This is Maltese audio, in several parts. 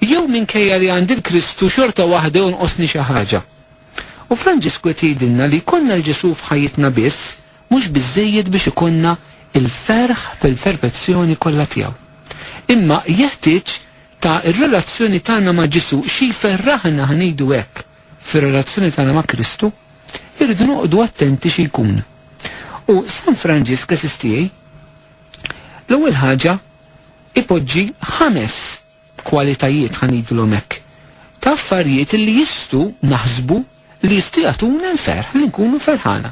Jew minkejja li għandi l-Kristu xorta waħda jonqosni xi ħaġa? U Franġisku qed jgħidilna li jkollna l-Ġesù f'ħajjitna biss mhux biżżejjed biex ikollna l-ferħ fil-ferfezzjoni kollha tiegħu. Imma jeħtieġ ta' r-relazzjoni tagħna ma' Ġesù xi jferraħna ħa ngħidu hekk fir-relazzjoni tagħna ma' Kristu, irridu noqogħdu attenti xi jkun. U San Franġisk għażiż tiegħi, l-ewwel ħaġa ipoġġi ħames kwalitajiet, ħa ngħidilhom hekk, ta' affarijiet li jistgħu naħsbu li jistgħu jagħtuna l-ferħ, li nkunu ferħana.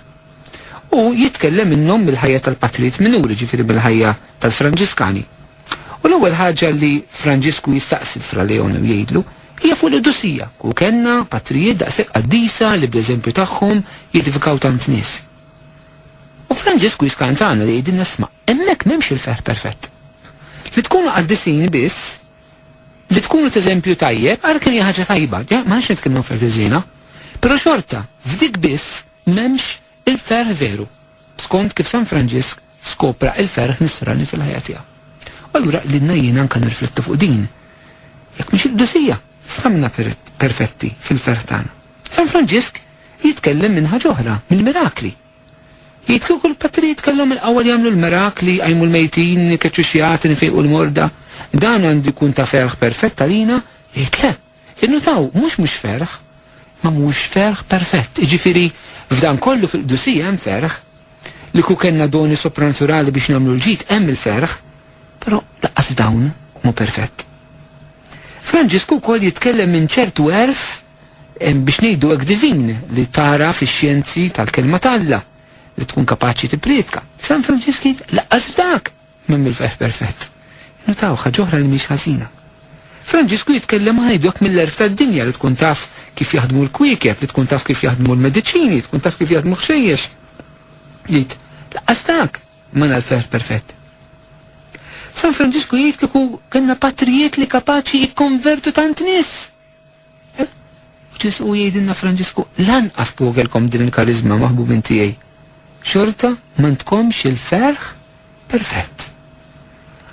U jitkellem minnhom mill-ħajja tal-patrijiet minuri, ġifieri mill-ħajja tal-Franġiskani. U l-ewwel ħaġa li Franġisku jistaqsi l-Fra Leone u jgħidlu hija fuq l-qdusija. Kieku kellna patrijiet daqshekk qaddisa li bl-eżempju tagħhom jedifikaw tant nies. U Franġisku jiskantana li jgħidilna isma' hemmhekk m'hemmx il-ferħ perfett. Li tkunu qaddisin biss, li tkunu t'eżempju tajjeb, ara kemm hija ħaġa tajba, ja, ma rridx nitkellmu affarijiet ħżiena, però xorta f'dik biss m'hemmx il-ferħ veru, skont kif San Franġisk skopra il-ferħ nisrani fil-ħajja tiegħu. U allura qlilna jiena anke nirriflettu fuq din, jekk mhix il-Qdusija, s'ħa minnha perfetti fil-ferħ tagħna? San Franġisk Jitkellem minn ħaġ'oħra, mill-mirakli. Jgħid kieku l-Patrijiet kellhom il-qawwa li jagħmlu l-mirakli, jqajmu l-mejtin, ikeċċu x-xjagħtin, ifejqu l-morda, dan għandu jkun ta' ferħ perfett għalina, jgħid le. Innutaw, mhux mhux ferħ, imma mhux ferħ perfett. Jiġifieri, f'dan kollu fil-qdusija hemm ferħ, li kieku kellna doni sopranaturali biex nagħmlu l-ġid hemm il-ferħ, però lanqas f'dawn mhu perfett. Franġisku wkoll jitkellem minn ċertu għerf biex ngħidu hekk divin, li tagħraf ix-xjenzi tal-Kelma t'Alla, li tkun kapaċi tipprietka. San Franġisk jgħid, Lanqas f'dak m'hemm il-ferħ perfett. Innutaw ħaġa oħra li mhix ħażina. Franġisku jitkellem ma ngħidu hekk mill-għerf tad-dinja li tkun taf kif jaħdmu l-kwiekeb, li tkun taf kif jaħdmu l-mediċini, tkun taf kif jaħdmu ħxejjex. Jgħid, lanqas dak m'għandna l-ferħ perfett. San Franġisku jgħid kieku kellna patrijiet li kapaċi jikkonvertu tant nies. U Ġesù jgħidilna Franġisku, Lanqas kieku kellkom din il-kariżma, maħbubin tiegħi, xorta m'għandkomx il-ferħ perfett.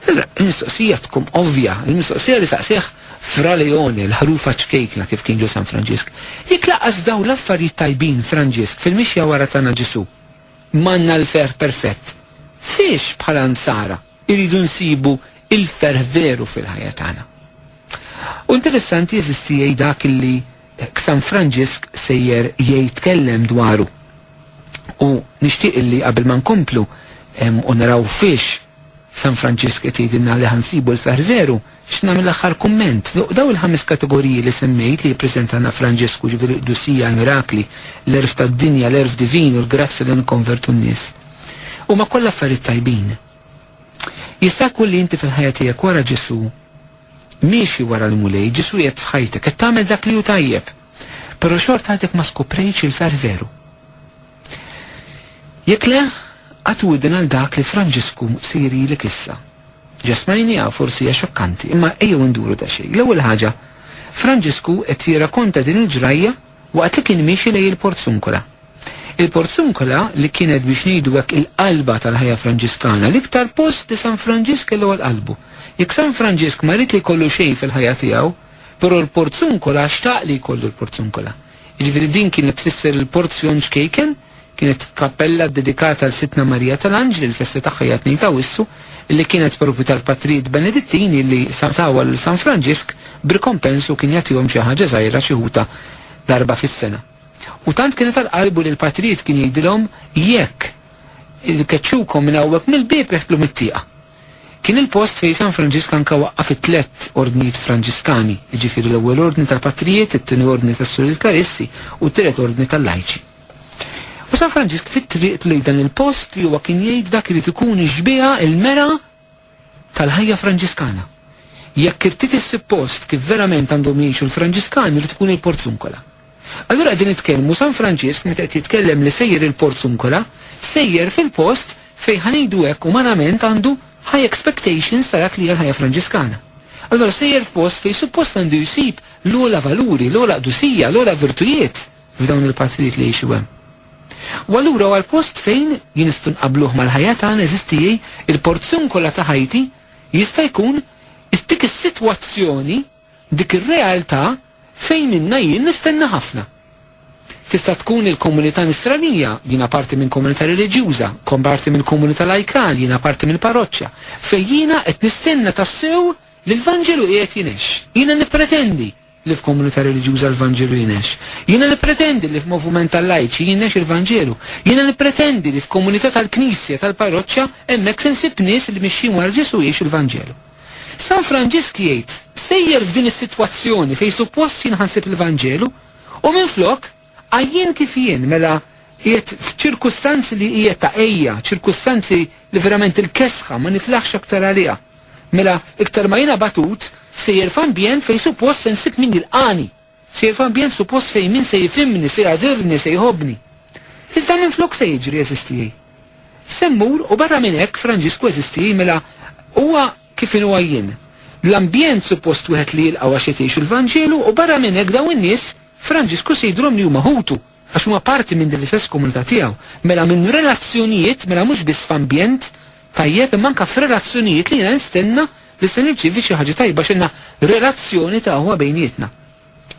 Allura, il-mistoqsija tkun ovvja, il-mistoqsija li saqsieh Fra Leone, l-ħrufa ċkejkna kif kien ġo San Franġisk, jekk lanqas f'dawn l-affarijiet tajbin, Franġisk, fil-mixja wara tagħna Ġesù, m'għandna l-ferħ perfett, fiex bħala Nsara, Irridu nsibu il-ferħ veru fil-ħajja tagħna. U interessanti għeżież tiegħi dak li San Franġisk sejjer jgħidtkellem dwaru. U nixtieq illi qabel ma nkomplu u naraw fiex San Franġisk qed jgħidilna li ħa nsibu l-ferħ veru, X'nagħmel l-aħħar kumment? Fuq dawn il-ħames kategoriji li semmejt li jippreżenta Naf Franġesku, ġifieri l-qdusija, l-mirakli, l-għerf tad-dinja, l-għerf divin u l-grazzja li nikkonvertu n-nies, huma kollha affarijiet tajbin. Jista' jkun li inti fil-ħajja tiegħek wara Ġesù, miexi wara l-Mulej, Ġesù qiegħed f'ħajtek, qed tagħmel dak li hu tajjeb, però xorta għadek ma skoprejtx il-ferħ veru. Jekk le, għatu widden għal dak li Franġisku se jirilek issa. Ġa smajniha, forsi hija xokkanti, imma ejjew induru daqsxejn. L-ewwel ħaġa, Franġisku qed jirrakonta din il-ġrajja waqt li kien miexi lejn il-Porziuncola. Il-Porziuncola li kienet biex ngħidu hekk il-qalba tal-ħajja Franġiskana, l-iktar post li San Franġisk kellu għal qalbu. Jekk San Franġisk ma ried li jkollu xejn fil-ħajja tiegħu, però l-Porziuncola xtaq li jkollu l-Porziuncola. Jiġifieri din kienet tfisser il-porzjon ċkejken, Kienet kappella ddedikata għal Sidtna Marija tal-Anġli li l-festa tagħha hija t-Tnejn ta' Awwissu, li kienet proprju tal-Patrijiet Benedittini li tawha lil San Franġisk b'rikompens u kien jagħtihom xi ħaġa żgħira xi ħutha darba fis-sena. U tant kienet għal qalbu li l-Patrijiet kien jgħidilhom, Jekk. Ikeċċukom minn hawnhekk mill-bieb iħtlu mit-tieqa. Kien il-post fejn San Franġisk anke waqqaf it-tlett ordnijiet Franġiskani, jiġifieri l-Ewwel Ordni tal-Patrijiet, it-Tieni Ordni tas-Suril-Karissi u t-Tielet Ordni tal-Lajċi. U San Franġisk fit-triqtu lejn dan il-post li huwa kien jgħid dak irid ikun ix-xbieha, il-mera tal-ħajja Franġiskana. Jekk irtid issib post kif verament għandhom jgħixu l-Franġiskani jrid ikun il-Porzunkola. Allura qegħdin nitkellmu San Franġisk meta qed jitkellem li sejjer il-Porzunkola, sejjer fil-post fejn ħa ngħidu hekk umanament għandu high expectations ta' dak li hija l-ħajja Franġiskana. Allura sejjer f'post fejn suppost għandu jsib l-ogħla valuri, l-ogħla qdusija, l-ogħla virtujiet f'dawn il-patrijiet li jgħixu hemm. U allura huwa l-post fejn jien nistgħu nqabbluh mal-ħajja tagħna eżisti il-porzunkola ta' ħajti jista' jkun dik is-sitwazzjoni Dik ir-realtà fejn minnha jien nistenna ħafna. Tista' tkun il-komunità Nisranija, jiena parti minn komunità reliġjuża, kont parti mill-komunità lajkal, jiena parti mill-parroċċa, fejn jiena qed nistenna tassew li l-Vanġelu qiegħed jingħex. Jiena nippretendi li f'komunità reliġjuża l-Vanġelu jingħex. Jiena nippretendi li f'movument tal-lajċi jingħex il-Vanġelu. Jiena nippretendi li f'komunità tal-knisja, tal-parroċċa, hemmhekk se nsib nies li mixjin wara Ġesù jgħixu l-Vanġelu. San Franġisk jgħid sejjer f'din is-sitwazzjoni fejn suppost jien ħa nsib il-Vanġelu u minflok għajjien kif jien, mela qiegħed f'ċirkustanzi li hija ta' għejja, ċirkustanzi li verament il-kesħa ma niflaħx aktar għaliha. Mela iktar ma jien abatut sejjer f'ambjent fejn suppost se nsib min jilqagħni. Sejjer f'ambjent suppost fejn min se jifhimni, se jagħdirni, se jħobbni. Iżda minflok se jiġri għeżież tiegħi? Se mmur u barra minn hekk Franġisku għeżież tiegħi mela huwa kif inhu għajjien. L-ambjent suppost wieħed li jilqgħu għax qed jgħixu l-Vanġelu u barra minn hekk dawn in-nies Franġisku se jidhrom li huma ħutu. għax huma parti minn din l-istess komunità tiegħu, mela minn relazzjonijiet, mela mhux biss f'ambjent tajjeb imma anke f'relazzjonijiet li jiena nistenna li se nirċievi xi ħaġa tajba għax għandna relazzjoni ta' aħwa bejnietna.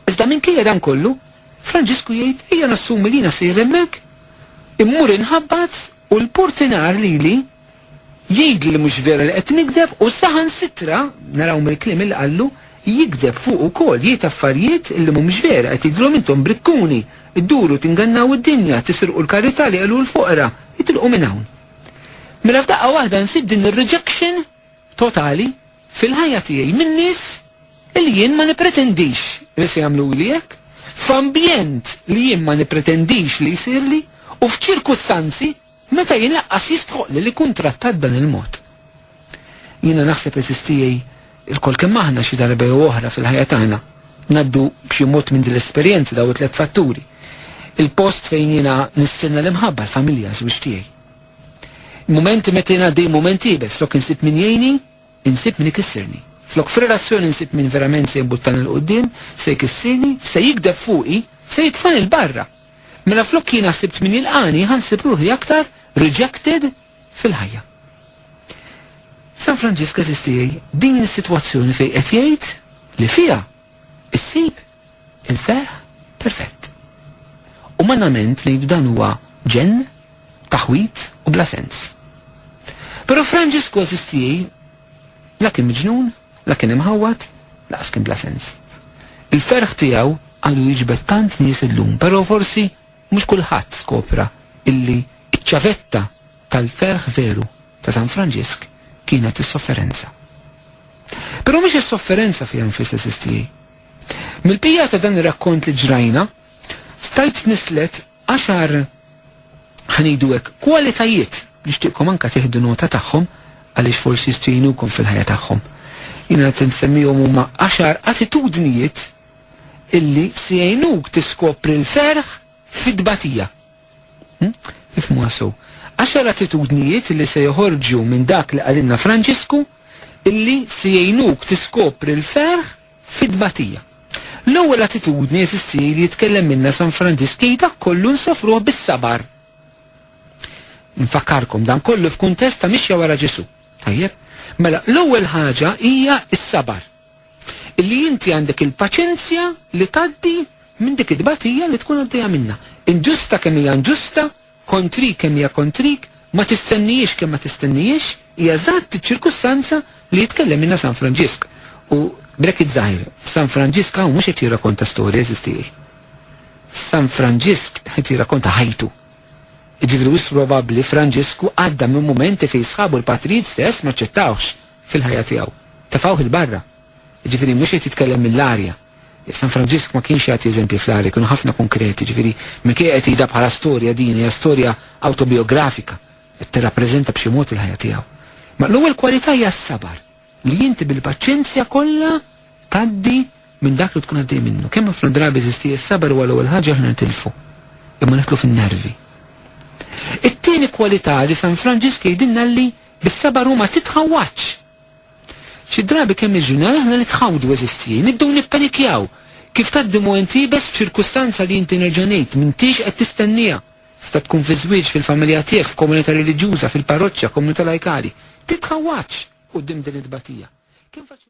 Iżda minkejja dan kollu, Franġisku jgħid ejja nassumi li jiena sejjer hemmhekk, immur inħabbat u l-portinar lili Jgħidlu li mhux veru li qed nigdeb u saħansitra, naraw mill-kliem li qallu, jigdeb fuqu wkoll, jgħid affarjiet li mhumiex vera, qed jgħidilhom intom brikkuni, idduru tingannaw id-dinja, tisirqu l-karità li qelu l-foqra, itilqu minn hawn. Mela f'daqqa waħda nsib din ir-rejection totali fil-ħajja tiegħi minn nies li jien ma nippretendix li se jagħmluli hekk, f'ambjent li jien ma nippretendix li jsirli u f'ċirkustanzi, Meta jien laqqas jistħoqqli li nkun trattat b'dan il-mod. Jiena naħseb, għeżież tiegħi, ilkoll kemm aħna, xi darba jew oħra fil-ħajja tagħna, ngħaddu b'xi mod minn din l-esperjenza, dawn it-tliet fatturi. Il-post fejn jiena nistenna l-imħabba, l-familja, ż-żwieġ tiegħi. Il-mumenti meta jien għaddej mument iebes, flok insib min jgħinni, insib min ikissirni. Flok f'relazzjoni nsib min verament se jimbuttani 'l quddiem, se jkissirni, se jigdeb fuqi, se jitfagħni 'l barra. Mela flok jiena sibt min jilqani ħa nsib ruħi aktar rejected fil-ħajja. San Franġisk eżiz tiegħi din is-sitwazzjoni fejn qed jgħid li fiha issib il-ferħ perfett. Umanament ngħidu dan huwa ġenn, taħwit u bla sens. Però Franġisku eżiz tiegħi la kien miġnun La kien imħawwad, lanqas kien bla sens. Il-ferħ tiegħu għadu jiġbed tant nies illum, però forsi mhux kulħadd skopra illi ċ-ċavetta tal-ferħ veru ta' San Franġisk kienet is-sofferenza. Però mhix is-sofferenza fiha nfisha, sistji. Mill-bqija ta' dan ir-rakkont li ġrajna, Stajt nislet għaxar, ħa ngħidu hekk, kwalitajiet, nixtieqkom anke tieħdu nota tagħhom għaliex forsi jistgħu jgħinukom fil-ħajja tagħhom. Jiena qed insemmihom huma għaxar attitudnijiet illi se jgħinuk tiskopri l-ferħ fit-tbatija. Hm? Ifmu għasu. Għaxar attitudnijiet illi se joħorġu minn dak li qalilna Franġisku illi se jgħinuk tiskopri l-ferħ fi tbatija. L-ewwel attitudni, għeżież Tiegħi, li jitkellem minnha San Franġisk hi dak kollu nsofruh bis-sabar. Infakkarkom, dan kollu f'kuntest ta' mixja wara Ġesù. Tajjeb? Mela, l-ewwel ħaġa hija s-sabar. Illi inti għandek il-paċenzja li tgħaddi minn dik it-tbatija li tkun għaddejja minnha. Inġusta kemm hija inġusta, Kontrik kemm hija kontrik, ma tistennihiex kemm ma tistennihiex, hija eżatt iċ-ċirkustanza li jitkellemilna San Franġisk. U, brekit żgħir, San Franġisk hawn mhux qed jirrakonta storja, għeżież tiegħi. San Franġisk qed jirrakonta ħajtu. Jiġifieri wisq probabbli Franġisku għadda minn mumenti fejn sħabu l-patrijiet stess m'aċċettawhx fil-ħajja tiegħu. Tefgħuh 'il barra. Jiġifieri mhux qed jitkellem mill-arja. San Franġisk ma kienx jagħti eżempji fl-agħar, kienu ħafna konkreti, ġifieri minkejja qed jgħidha bħala storja din hija storja awtobijografika qed tirrappreżenta b'xi mod il-ħajja tiegħu. Ma l-ewwel kwalità hija s-sabar, li inti bil-paċenzja kollha tgħaddi minn dak li tkun għaddej minnu. Kemm ħafna drabi żisti s-sabar huwa l-ewwel ħaġa aħna nitilfu, imma nidħlu fin-nervi. It-tieni kwalità li San Franġisk jgħidilna li bis-sabar huma titħawwadx. Xi drabi kemm niġġunjaw aħna nitħawdu għeżież tiegħi, nibdew nippanikjaw. Kif tgħaddi mument iebes f'ċirkustanza li inti nerġa' ngħid, m'intix qed tistenniha. Tista' tkun fiż-żwieġ, fil-familja tiegħek, f'komunità reliġjuża, fil-parroċċa, komunità lajkali. Titħawwadx quddiem din it-tbatija. Kemm faċli.